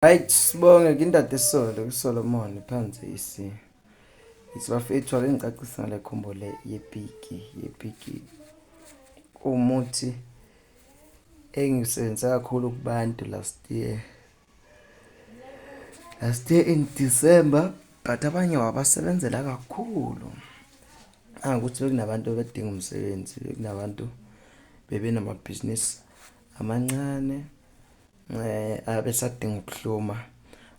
Right, sibonge kindade solo kuSolomon phansi isi. Isibafethu ake ngicacisa ngale combo le yepiki yepiki. Umuthi engisebenza kakhulu kubantu last year. Last year in December but abanye wabasebenzela kakhulu. Angukuthi bekunabantu abadinga umsebenzi, bekunabantu bebenamabhizinisi amancane. Eh abesadinga ukuhluma.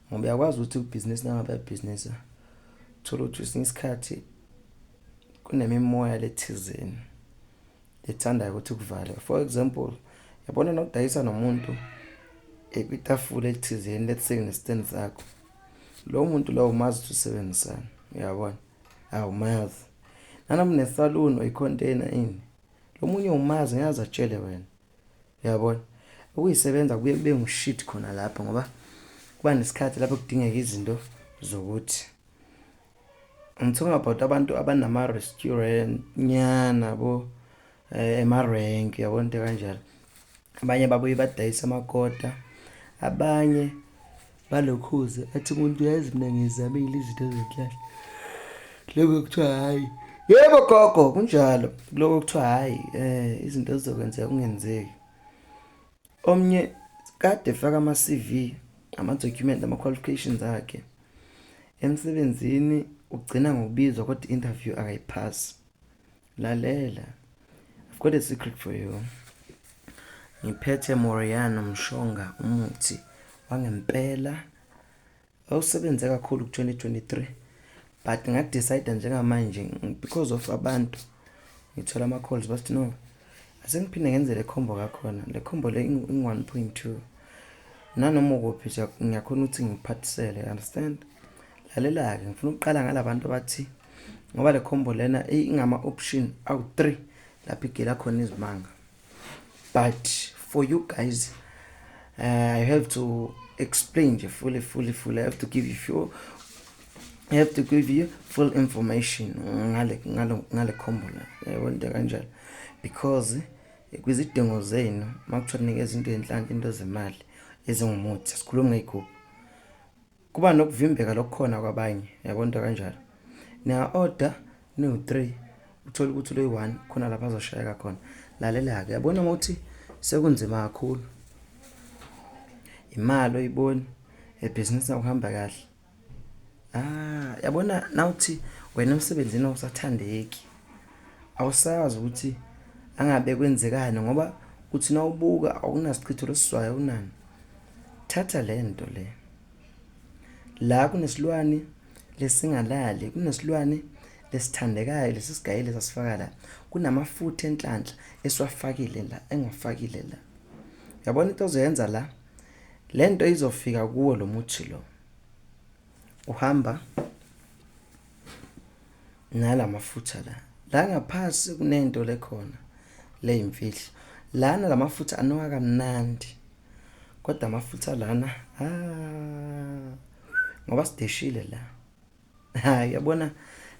Ngoba uyakwazi ukuthi ubusiness nangabe ubusiness thola ukuthi usinga isikhathi kunemimoya lethizeni ethandayo ukuthi kuvale. For example, yabona nokudayisa nomuntu ekwitafula elithizeni let's say ne stand sakho. Lo muntu lowo umazi ukuthi usebenzisana, uyabona? Awumazi. Nanomunethaloon oyicontainer ini lomunye umazi ngiyazi atshele wena Uyabona? Ukuyisebenza kubuye kube ngushit khona lapho ngoba kuba nesikhathi lapho kudingeka izinto zokuthi I'm talking about abantu abanama restaurant nyana bo eh, ema rank yabona into kanjalo abanye babuye badayisa amakota abanye Balokhuze athi umuntu uyazi mina ngizamile izinto ezinhlahla lokho kuthiwa hhayi yebo gogo kunjalo kuloko kuthiwa hhayi um izinto zizokwenzeka kungenzeki omnye kade faka ama-cv ama-document ama-qualifications akhe emsebenzini ugcina ngokubizwa kodwa i-interview akayiphasi Lalela. I've got a secret for you. Ngiphethe Moriano Mshonga umuthi wangempela awusebenze kakhulu ku-2023 but ngadecide njengamanje because of abantu ngithola ama-calls bathi no asengiphinde ngenze le khombo kakhona le khombo le ingu-one point two nanoma ukuphi ngiyakhona ukuthi ngiphathisele understand lalela-ke ngifuna ukuqala ngala bantu abathi ngoba le combo lena ingama option awu-3 lapho igela khona izimanga but for you guys uh, i have to explain nje fully fully fully i have to give you full i have to give you full information ngale ngale ngale combo la yabo into kanjalo because kwizidingo zenu makuthiwa nikeza into enhlanhla into zemali ezingumuthi sikhuluma ngeyigubhu kuba nokuvimbeka lokukhona kwabanye yabo into kanjalo niya order niwu 3 uthola ukuthi uloyi 1 khona lapha azoshayeka khona lalela ke yabona ukuthi sekunzima kakhulu imali oyiboni ebhizinisi akuhamba kahle ah yabona nawuthi wena emsebenzini awusathandeki awusazi ukuthi angabe kwenzekani ngoba uthi nawubuka awunasichitho lesizwayo unani Thatha le nto le. La kunesilwane lesingalali, kunesilwane lesithandekayo lesi sigayile sasifaka la. Kunamafutha enhlanhla esiwafakile la, engiwafakile la. Yabona into ozoyenza la? Le nto izofika kuwo lo muthi lo. Uhamba nala mafutha la. La ngaphasi kunento lekhona leyimfihlo. Lana la mafutha anoka kamnandi. Kodwa amafutha lana ha ah, ngoba sideshile la. Ha yabona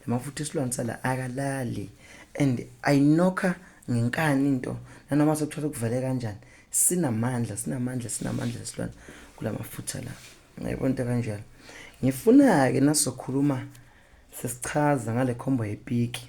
lamafutha isilwane sala akalali and ayinokha ngenkani into nanoma sekuthola kuvele kanjani sinamandla sinamandla sinamandla isilwane kulamafutha la. Ngiyabona into kanjalo. Ngifuna ke nasokhuluma sesichaza ngale khombo yepiki.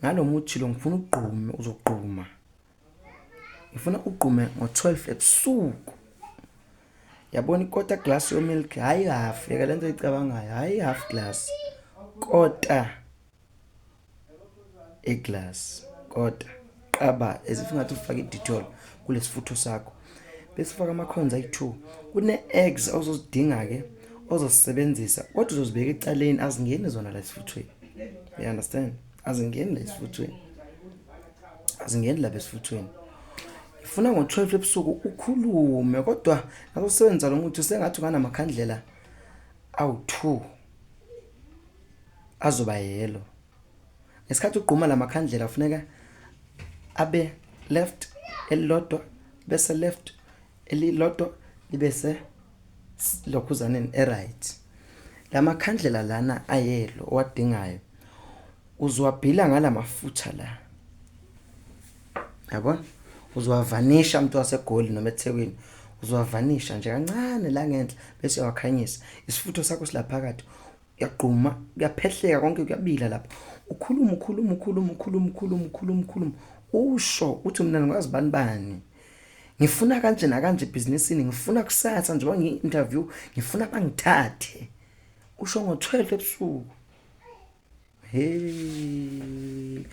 Ngalo muthi lo ngifuna ugqume uzogquma. Ngifuna ugqume ngo-12 ebusuku. Yabona ikota glass yo milk hayi half yeka lento icabangayo hayi half glass. Kota e glass kota qaba as if ngathi ufake i-detol kulesifutho sakho bese ufaka amakhonza ayi-2 kune-eggs ozozidinga-ke ozosisebenzisa kodwa uzozibeka ecaleni azingeni zona la esifuthweni you understand azingeni la esifuthweni azingeni laba esifuthweni ngifuna ngo-12 ebusuku ukhulume kodwa nasosebenzisa lo muthi sengathi unganamakhandlela awu-2 azoba yelo Ngesikhathi ugquma la makhandlela kufuneka abe left elilodwa bese left elilodwa libe se lokhuzaneni eright la makhandlela lana ayelo owadingayo uzowabhila ngala mafutha la yabona uzowavanisha umuntu wasegoli noma ethekwini uzowavanisha nje kancane la ngenhla bese uyawakhanyisa isifutho sakho silaphakathi kuyagquma kuyaphehleka konke kuyabila lapha ukhuluma ukhuluma ukhuluma ukhuluma ukhuluma ukhuluma ukhuluma usho uthi mina ngikwazi bani bani ngifuna kanje nakanje ebhizinisini ngifuna kusasa njengoba ngi-interview ngifuna bangithathe usho ngo-12 ebusuku hey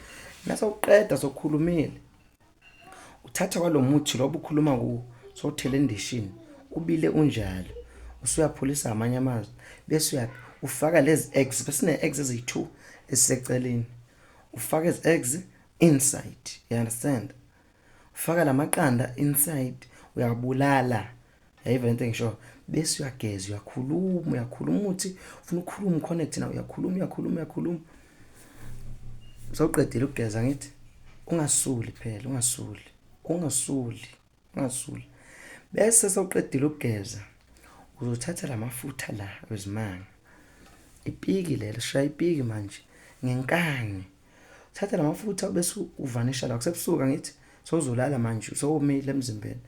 nasawuqeda sokhulumile uthatha kwalo muthi lo obukhuluma kuwo sowuthele endishini ubile unjalo usuyaphulisa amanye amazwi bese uya ufaka lezi eggs besine eggs eziyi-two esiseceleni ufaka ezi eggs inside you understand ufaka la maqanda inside uyabulala yayivele into engisho bese uyageza uyakhuluma uyakhuluma uthi ufuna ukukhuluma connect na uyakhuluma uyakhuluma uyakhuluma sawuqedile ukugeza ngithi ungasuli phela ungasuli ungasuli ungasuli bese sawuqedile ukugeza uzothatha lamafutha la wezimanga ipiki lelo shaya ipiki manje ngenkani thatha lamafutha bese uvanisha la kusebusuka ngithi sowuzolala manje sowomile emzimbeni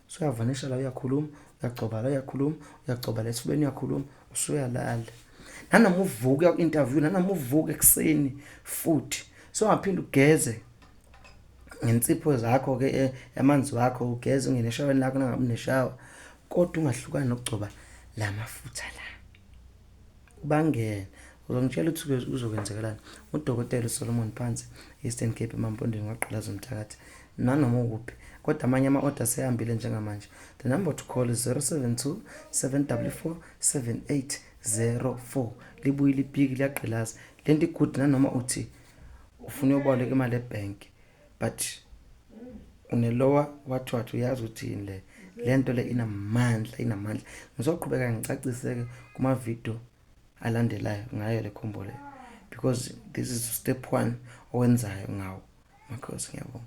soyavanisha la uyakhuluma uyagcoba la uyakhuluma uyagcoba la esifubeni uyakhuluma usuyalala nanoma uvuke uku-interview nanoma uvuke ekuseni futhi songaphinde ugeze ngensipho zakho-ke eh, yamanzi wakho ugeze ungene eshaweni lakho nangabe uneshawa kodwa ungahlukani nokugcoba la mafutha la Bangene. Uzongitshela ukuthi kuzokwenzekelani. UDokotela uSolomon Phansi, Eastern Cape emampondweni kwagqalaza umthakathi. Nanoma ukuphi. Kodwa amanye ama-oda sehambile njengamanje. The number to call is 072 744 7804. Libuyile ipiki liyagqilaza. Le nto igudi nanoma uthi ufuna uyoboleka imali ebhenki. but unelowa wathwathu uyazi ukuthi yini le le nto le inamandla inamandla ngizoqhubeka ngicacise-ke kumavidiyo alandelayo ngayo le khombo le because this is step one owenzayo ngawo makhosi ngiyabonga